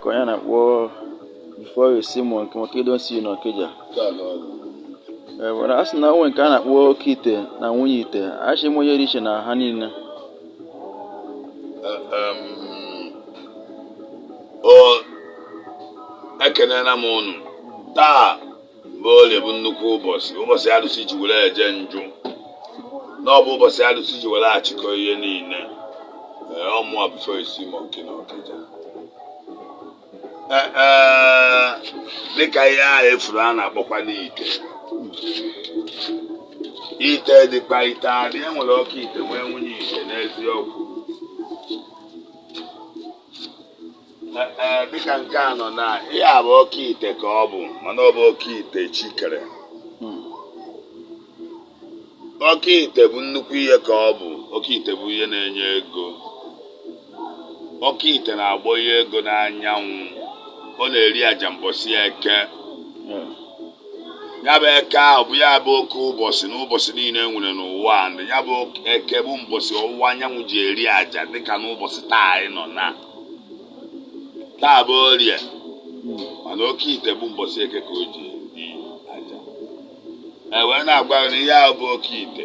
ka onye na-akpọ before you see monkey monkey don see you n'Ọkịja Ee, mana a sị na o nwe nke a na-akpọ oke ite na nwunye ite asị m onye dị iche na ha niile Em, o ekenela m unu taa bụ orie bụ nnukwu ụbọchị ụbọchị arụsị ji were eje njụ na ọ bụ ụbọchị arụsị ji were achịkọ ihe niile ee ọ mụa before you see monkey na Ọkịja Ee, ee, dịka ihe ahụ ị fụrụ a na-akpọkwa n'ite ite dịkwa ite adị e nwere oke ite nwee nwunye ite n'eziokwu dịka nke a nọ na ihe a bụ oke ite ka ọ bụ mana ọ bụ oke ite chi kere oke ite bụ nnukwu ihe ka ọ bụ oke ite bụ ihe na-enye ego oke ite na-agbọ ihe ego n'anyanwụ ọ na-eri aja mbọsị eke ya bụ eke ahụ bụ ya bụ oke ụbọchị na ụbọchị niile e nwere n'ụwa a, na ya bụ eke bụ mbọsị ọwụwa anyanwụ ji eri aja dịka n'ụbọchị taa anyị nọ na taa bụ orie mana oke ite bụ mbọsị eke ka o ji eri aja e wee na-agwa gị na ihe ahụ bụ oke ite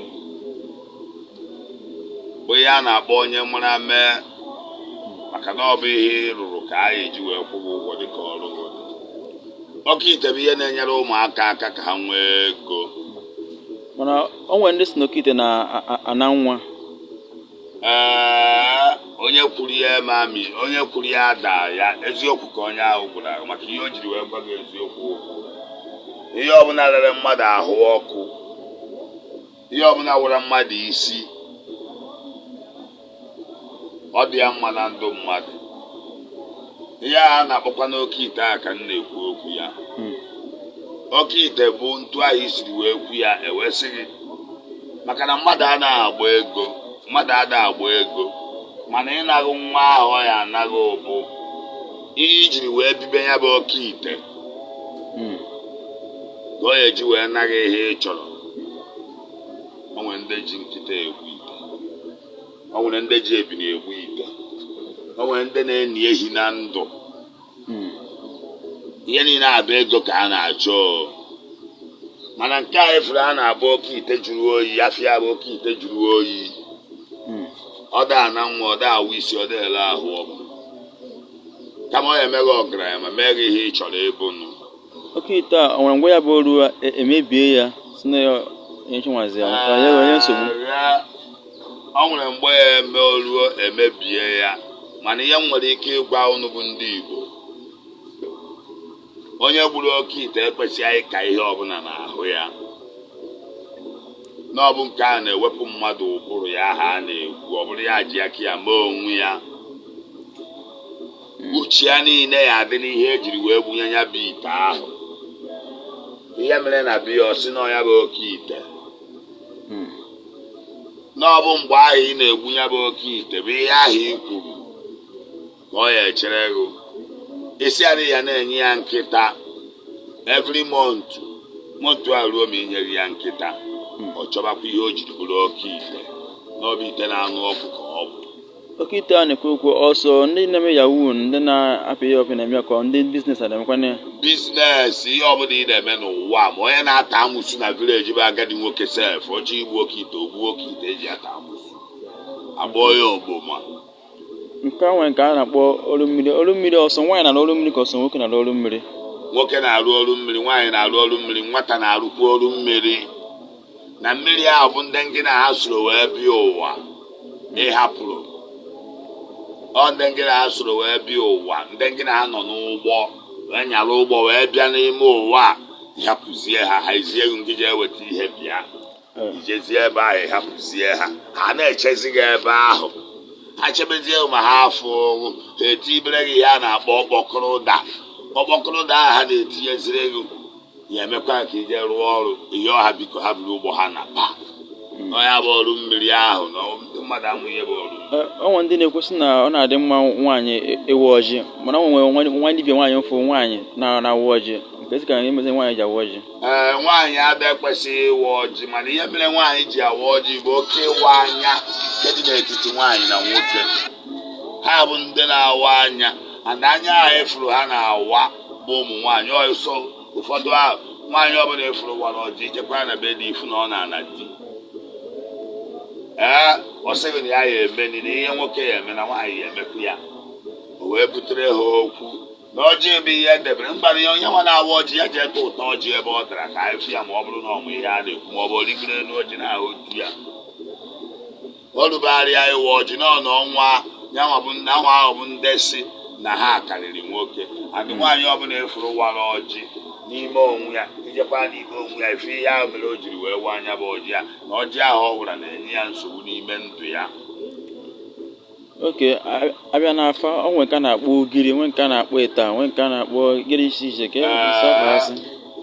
bụ ihe a na-akpọ onye mara mee maka na ọ bụ ihe ị rụrụ ka a ga-eji wee kwụ gị ụgwọ dịka ọrụ gị dị. oke ite bụ ihe na-enyere ụmụaka aka ka ha nwee ego mana o nwere ndị si n'oke ite na-ana nwa ee onye kwuru ya mami onye kwuru ya ada ya eziokwu ka onye ahụ gwara gị maka ihe o jiri wee gwa gị eziokwu okwu ihe ọbụla rere mmadụ ahụ ọkụ ihe ọbụla wụra mmadụ isi ọ dị ya mma na ndụ mmadụ ihe a na-akpọkwa n'oke ite a ka m na-ekwu okwu ya Hmm. oke ite bụ etu ahụ i siri wee kwu ya e wee sị gị maka na mmadụ ada agbọ ego mmadụ ada agbọ ego mana ịna gị nwa ahụ ọ ya-ana gị ọ bụ ihe i jiri wee bibe ya bụ oke ite Hmm. ka ọ ya-eji wee na gị ihe ị chọrọ o nwere ndị ji nkịta egwu o nwere ndị ji ebini egbu ite o nwere ndị na-eni ehi na ndụ Hmm. ihe niile a bụ ego ka a na-achọ o. mana nke a ị fụrụ a na-abụ oke ite jụrụ oyi afịa bụ oke ite jụrụ oyi Hmm. ọ da ana nwa ọ da awa isi ọ da ele ahụ ọkụ kama ọ ya-eme gị ọgaranya ma mee gị ihe ị chọrọ ịbụ nụ oke ite a ọ nwere mgbe ya bụ oruo e- emebie ya si na ya onye chinwazi ya ka ya onye nsogbu Ah, ya- ọ nwere mgbe ya eme oruo emebie ya mana ihe m nwere ike ịgwa unu bụ ndị Igbo onye gburu oke ite ekwesịghị ịka ihe ọbụla n'ahụ ya na ọ bụ nke a na-ewepụ mmadụ ụbụrụ ya aha a na-ekwu ọ bụrụ ya ji aka ya mee onwe ya uche ya niile ya adị n'ihe ejiri wee gbunye ya bụ ite ahụ ihe mere na biya ọ sị na ọ ya bụ oke ite na ọ bụ mgbe ahụ ị na-egbu ya bụ oke ite bụ ihe ahụ i kwuru ka ọ ya echere gị isi adị ya na-enye ya nkịta every month month a ruo ma inyeghị ya nkịta ọ chọbakwa ihe o jiri bụrụ oke ite na ọ bụ ite na-anụ ọkụ ka ọ bụ Oke ite a na-ekwu okwu ọ sọ ndị na-eme yahoo ndị na-apị ihe ọpị na-eme ka ndị biznes a na-emekwana ya biznes ihe ọbụla ị na-eme n'ụwa ma onye na-ata amụsu na vileji bụ agadi nwoke sef ọ chọọ igbu oke ite o gbuo oke ite eji ata amụsu akpọọ ya ogboma nke a nwere nke a na-akpọ ọrụ mmiri ọrụ mmiri ọ sọ nwaanyị na ọrụ mmiri ka ọ sọ nwoke na ọrụ mmiri nwoke na-arụ ọrụ mmiri nwaanyị na-arụ ọrụ mmiri nwata na-arụkwa ọrụ mmiri na mmiri ahụ bụ ndị ngị na ha soro wee bịa ụwa ịhapụrụ ọ ndị ngị na ha soro wee bịa ụwa ndị ngị na ha nọ n'ụgbọ wee nyara ụgbọ wee bịa n'ime ụwa ịhapụzie ha ha ezie gị ngị jee weta ihe bịa ijezie ebe ahụ ịhapụzie ha ha na-echezi gị ebe ahụ ha chebezie ma ha afụghị gị ha etibere gị ihe a na-akpọ ọkpọkọrọ ụda ọkpọkọrọ ụda ahụ ha na-etinyeziri gị ya emekwa ka ije rụọ ọrụ ị yọọ ha biko ha buru ụgbọ ha naba ọ ya bụ ọrụ mmiri ahụ na ndị mmadụ amụ ihe bụ ọrụ o nwere ndị na-ekwu sị na ọ na-adị mma nwaanyị ịwa ọjị mana ọ nwere nwa dibia nwaanyị m fụrụ nwaanyị na-awa ọjị keezi ka emezi nwaanyị ji awa ọjị ee nwaanyị abịa ekwesịghị ịwa ọjị mana ihe mere nwaanyị ji awa ọjị bụ oke ịwa anya nke dị n'etiti nwaanyị na nwoke ha bụ ndị na-awa anya and anya ahụ ị fụrụ ha na-awa bụ ụmụ nwaanyị ọsọ ụfọdụ ahụ nwaanyị ọbụla ị fụrụ wara ọjị ijekwa na be di ịfụ na ọ na-ana di ee ọ sị gị na ya ya emeni na ihe nwoke ya eme na nwaanyị ya emekwu ya o wee butere ha okwu na ọjị bụ ihe edebere mgbara ya onye nwa na-awa ọjị ya ji ete ụtọ ọjị ebe ọ dara ka anyị fụ ya ma ọ bụrụ na ọ mụ ihe a na-ekwu ma ọ bụ origoro elu ọjị na ahụ otu ya olubegharịa ịwa ọjị na ọnụ ọnwa yanwa bụ ndị anwa ahụ bụ ndị sị na ha karịrị nwoke adị nwaanyị ọbụla ị fụrụ wara ọjị n'ime onwe ya ijekwa n'ime onwe ya ị fụ ihe ahụ mere o jiri wee waa nya bụ ọjị ya na ọjị ahụ ọ wara na-enye ya nsogbu n'ime ndụ ya okay a bịa n'afa o nwere nke a na-akpọ ugiri nwee nke a na-akpọ ịta nwee nke a na-akpọ ugiri iche iche ka e Ee. sapụasị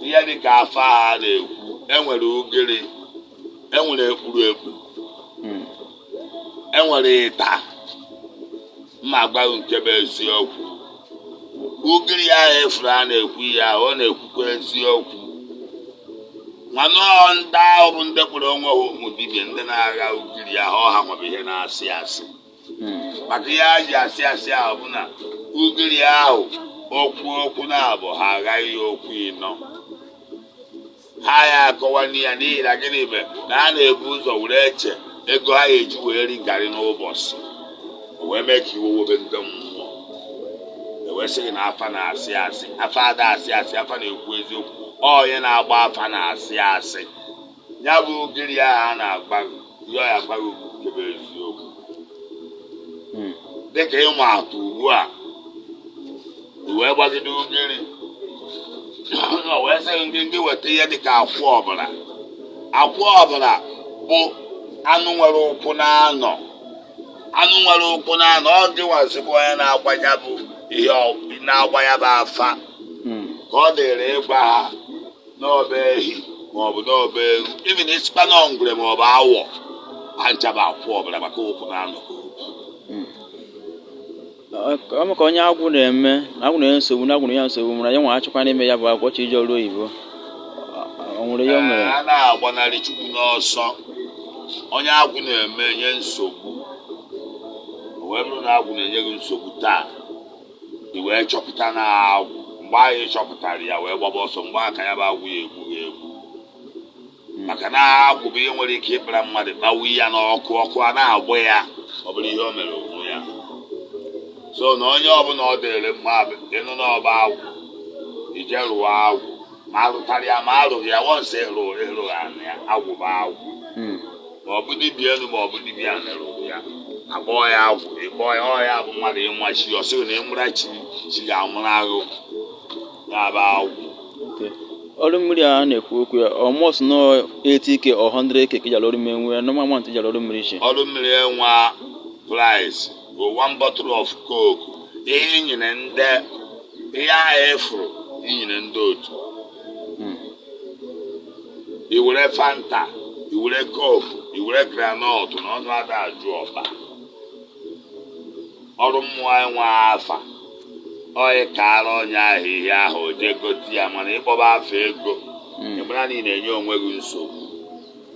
ihe dị ka afa a na-ekwu enwere ugiri enwere ekpuru ekpu Hmm. enwere ịta ma a gwa gị nke bụ eziokwu ugiri ahụ ị fụrụ a na-ekwu ya ọ na-ekwukwa eziokwu mana ọ ndị ahụ bụ ndị kpọrọ onwe ha ụmụ dibịa ndị na-agha ugiri ahụ ọ ha nwere ihe na-asị asị Hmm. maka ihe a ji asị asị ahụ bụ na ugiri ahụ okwu okwu naabọ ha aghaa ya okwu ịnọ ha ya akọwanụ ya n'ihi na gịnị mere na ha na-ebu ụzọ were eche ego ha ga-eji wee ri garị n'ụbọchị o wee mee ka iwe webe ndị mmụọ ewee sị gị na afa na-asị asị afa ada asị asị afa na-ekwu eziokwu ọ onye na-agba afa na-asị asị ya bụ ugiri ahụ a na-agba ihe ọ ya agba gị bụ nke bụ eziokwu Hmm. dịka ịma atụ ugbu a i wee gbagide ugiri ọ wee sị gị gị weta ihe dịka akwụ ọbara akwụ ọbara bụ anụ nwere ụkwụ na-anọ anụ nwere ụkwụ na-anọ ọ dịwazikwa onye na-agba ya bụ ihe ọ- na-agba ya bụ afa Mm. ka ọ dịrị ịgwa ha na ọ bụ ehi maọbụ na ọ bụ ewu even ị sịkwa na ngwere maọbụ awọ ha ncha bụ akwụ ọbara maka ụkwụ na-anọ Mm. o mee ka onye agwụ na-eme na agwụ na-enye nsogbu na agwụ na-enye nsogbu mana ya nwa achịkwa n'ime ya bụ agwụ chọọ ije ọrụ oyibo o nwere ihe o mere a na-agbanarị chukwu n'ọsọ onye agwụ na-eme nye nsogbu o wee bụrụ na agwụ na-enye gị nsogbu taa i wee chọpụta na agwụ mgbe ahụ ị chọpụtara ya wee gbaba ọsọ mgbe ahụ ka ya bụ agwụ ya egbu gị egbu maka na agwụ bụ ihe nwere ike ịkpara mmadụ kpawu ya n'ọkụ ọkụ a na-agba ya ọ bụrụ ihe o mere onwe ya so na onye ọbụla ọ dịrị mma bụ ịnụ na ọ bụ agwụ i jee rụwa agwụ ma arụtara ya ma arụghị ya once ịrụ ịrụ ya na ya agwụ bụ agwụ Mm. ma ọ bụ dibịa elu ma ọ bụ dibịa ala rụrụ ya akpọọ ya agwụ ịkpọọ ya ọ ya bụ mmadụ ịma chi ya ọ sịrị na ị mụra chi chi ga-amụrụ gị ya bụ agwụ Okay. ọrụ mmiri a na-ekwu okwu ya almost no 80k or 100k ka e ji arụ ọrụ mmiri nwee normal amount e ji arụ ọrụ mmiri iche ọrụ mmiri enwe price bụ one bottle of coke ihe i nyere ndị ihe ahụ efuru i nyere ndị otu Hmm. i were fanta i were coke i were granọt na ọnụ ada ajụ ọba ọrụ mmụọ enwe afa ọnụ ị kaara onye ahụ ihe ahụ o jee gote ya mana ị kpọba afa ego Mm. ị mara na ị na-enye onwe gị nsogbu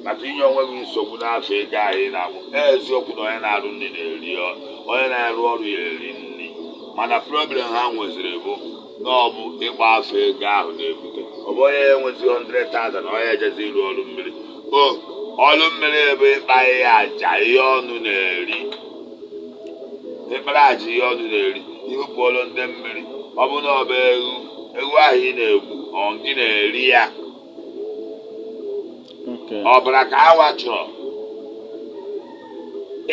maka inye onwe gị nsogbu n'afa ego ahụ ị na-akpọ eziokwu na onye na-arụ nri na-eri ọ- onye na-arụ ọrụ ya eri nri mana problem ha nweziri bụ na ọ bụ ịkpọ afa ego ahụ na-ebute ọ bụ onye enwezi 100,000 na ọ ya ejezi ịrụ ọrụ mmiri o ọrụ mmiri ebe ịkpa ihe aja ihe ọnụ na-eri ị kpara aja ihe ọnụ na-eri i bupụọrọ ndị mmiri ọ bụ na ọ bụ ewu ewu ahụ ị na-egbu ọ gị na-eri ya Okay. ọbara ka hanwa chọrọ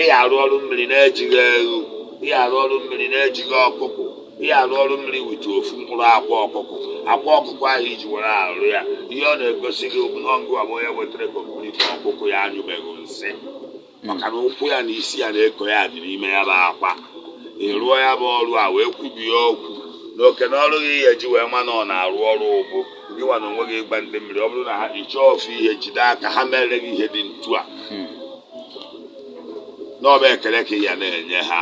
ị ya-arụ ọrụ mmiri na-ejighị ewu ị ya-arụ ọrụ mmiri na-ejighị ọkụkụ ị ya-arụ ọrụ mmiri with ofu mkpụrụ akwa ọkụkụ akwa ọkụkụ ahụ i ji were arụ ya ihe ọ na-egosi gị ọ ngịwa bụ onye wetara complete ọkụkụ ya anyụbeghị nsị maka na ụkwụ ya na isi ya na eko ya dị n'ime ya bụ akwa ị rụọ ya bụ ọrụ a wee kwubie okwu na oke na ọrụ gị ihe ji wee ma na ọ na-arụ ọrụ bụ gịnwa na onwe gị ị gwa ndị mmiri ọ bụrụ na ha ịchọ ofu ihe jide aka ha mere gị ihe dị ntu a na ọ bụ ekele ka ị ya na-enye ha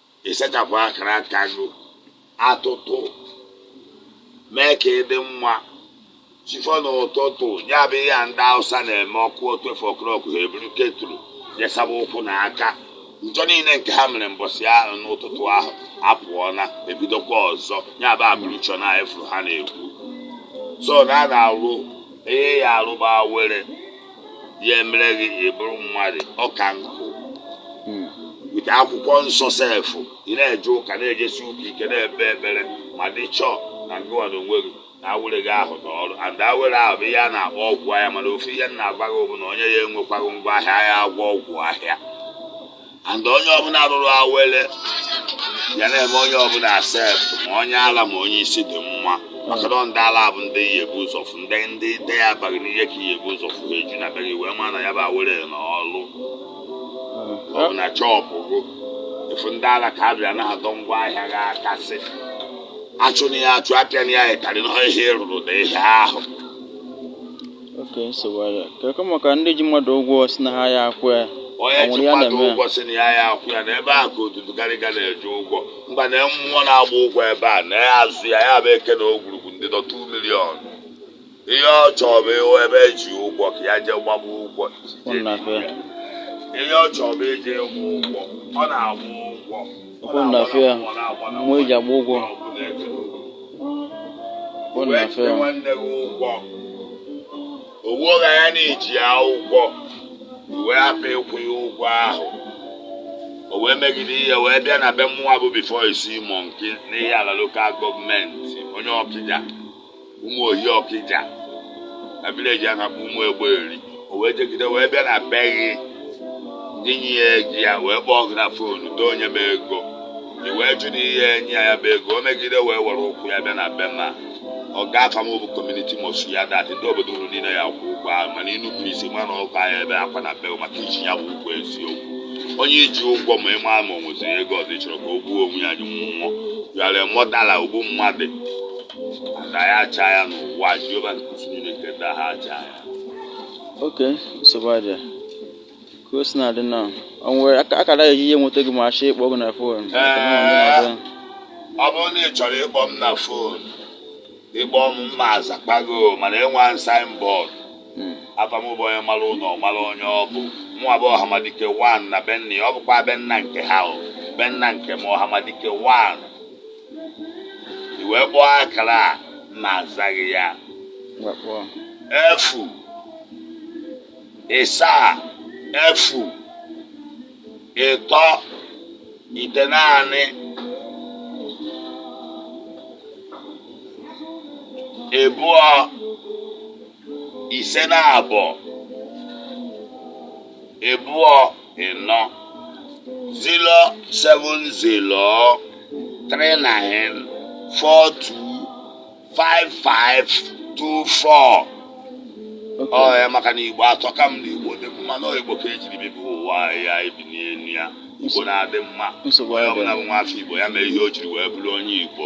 ịsachapụ akara aka gị atịtị mee ka ị dị mma chi fo n'ụtụtụ ya bụ ihe a ndị awụsa na-eme ọ kụọ twelve o'clock ha eburu kettle jee saba ụkwụ na aka njọ niile nke ha mere mbọsị ahụ n'ụtụtụ ahụ apụọla ebidokwa ọzọ ya bụ ablution a fụrụ ha na-ekwu so na a na-arụ ihe ya arụba awere ya emere gị ị bụrụ mmadụ ọka nkụ hmm. with akwụkwọ nsọ self ị na-eje ụka na-ejesi ụka ike na-ekpe ekpere ma dị sure na ngịwa na onwe gị na awere gị ahụ na ọrụ and awere ahụ bụ ihe a na-akpọ ọgwụ ahịa mana ofu ihe na-agwa gị bụ na onye ya enwekwaghị ngwa ahịa ya agwọ ọgwụ ahịa and onye ọbụla rụrụ awele ya na-eme onye ọbụla accept ma onye ala ma onye isi dị mma maka na ndị ala bụ ndị ị ya-ebu ụzọ fụ ndị ndị ndị ya abaghị n'ihe ka ị ya-ebu ụzọ fụ ha eju na be gị wee ma na ya bụ awele na ọlụ ọ bụ na shop gị ị fụ ndị ala ka abịa na-adọ ngwa ahịa gị aka sị achụna ya achụ apịana ya ịtarị na ihe ị rụrụ dị ihe ahụ oke nsogbu ya kekọ maka ndị ji mmadụ ụgwọ si na ha ya akwụ ya onye ji mmadụ ụgwọ si na ya ya akwụ ya na ebe a ka odudu garịga na-eje ụgwọ mgba na mmụọ na-agba ụgwọ ebe a na ya azụ ya ya bụ Eke na Ogwurugwu ndị dọ 2 million ihe ọ chọrọ bụ ịhụ ebe eji ụgwọ ka ya jee gbaba ụgwọ ụnụ na-afịa ihe ọ chọrọ bụ ije ịgba ụgwọ ọ na-agba ụgwọ ọkpọ na afọ ya mmụọ eji agba ụgwọ ọkpọ na afọ ya nwanne gị ụgwọ owu ọgha ya na-eji ya ụgwọ wee hapụ ịkwụ ya ụgwọ ahụ o wee megide ihe wee bịa na be mmụọ bụ before isi monkey n'Ihiala local government onye Ọkịja Ụmụohi Ọkịja na village a na-akpọ Ụmụegberi o wee jegide wee bịa na be gị ndị nye ya ego ya wee kpọọ gị na phone doo nye m ego i wee jụ na ị ya enye ya bụ ego o megide wee were ụkwụ ya bịa na be mmụọ afa m bụ community must hear that ndị obodo unu niile ya-akwụ ụgwọ ahụ mana ị nupụ isi ma na ụka ya ebe akwa na be maka i ji ya bụ ụgwọ eziokwu onye i ji ụgwọ ma ị ma ma ọ nweziri ego ọzọ ị chọrọ ka o gbuo onwe ya ji nwụọ you are a murderer ogbu mmadụ na ya acha ya n'ụwa Jehova nke usuu niile nke ndị agha acha ya oke nsogbu adịa ka o si na-adị na o nwere aka- akara eji ihe nweta gị ma a chọọ ịkpọ gị na phone ọ bụrụ na ị chọrọ ịkpọ m na phone ị kpọọ m m ma azakpa gị o, mana enwe m signboard afa m bụ onye mara ụlọ mara onye ọ bụ mụnwa bụ Ọhamadike 1 na be nna ọ bụkwa be nna nke ha ọ be nna nke m Ọhamadike 1 i wee kpọọ akara a m na-azaghị ya efu ịsaa efu ịtọ itenaanị ịbụọ ise naabọ ịbụọ ịnọ zero seven zero three nine four two five five two four ọ ya maka na Igbo atọka m na Igbo dị mma na Igbo ka e jiri bibi ụwa ya e bi n'elu ya Igbo na-adị mma nsogbu onye ọbụla bụ nwa afọ Igbo ya mee ihe o jiri wee bụrụ onye Igbo